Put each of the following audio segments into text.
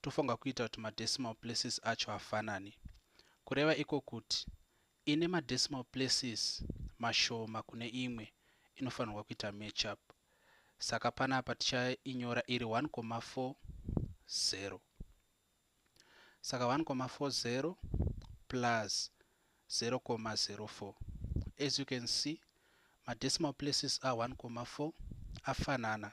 tofunga kuita kuti madecimal places acho afanane. Kureva iko kuti ine madecimal places mashoma kune imwe inofanirwa kuita matchup. Saka panapa tichainyora iri 1,40. Saka 1,40 plus 0,04. As you can see, madecimal places a 1,4 afanana.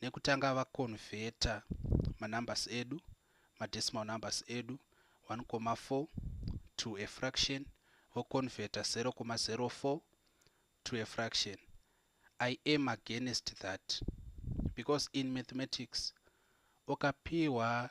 nekutanga va converter ma numbers edu ma decimal numbers edu 1,4 to a fraction vo converter 0,04 to a fraction i am against that because in mathematics ukapiwa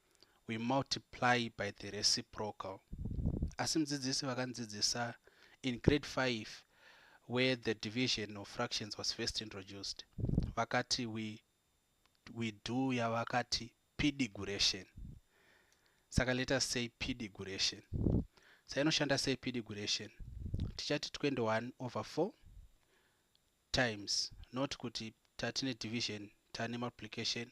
we multiply by the reciprocal asi mudzidzisi vakandzidzisa in grade 5 where the division of fractions was first introduced vakati we, we do yavakati pdiguration saka let us say pdiguration sainoshanda sei pdiguration tichati 21 over 4 times not kuti tatine division tane multiplication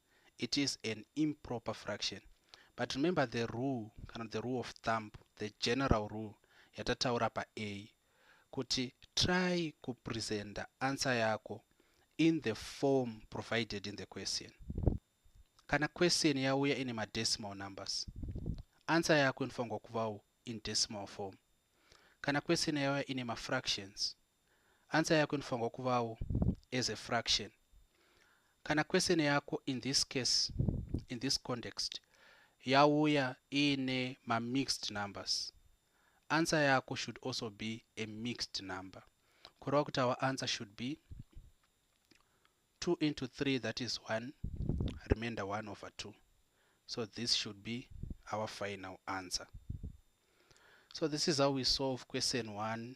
it is an improper fraction but remember the rule kana the rule of thumb the general rule yatataura pa a kuti try kupresenta answer yako in the form provided in the question kana question yauya ine madecimal numbers answer yako inofanirwa kuvawo in decimal form kana question yauya ine mafractions Answer yako inofanirwa kuvawo as a fraction. Kana question yako in this case, in this context, yauya iine mamixed numbers, answer yako should also be a mixed number. Kureva kuti our answer should be 2 into 3, that is 1, remainder 1 over 2. So this should be our final answer. So this is how we solve question 1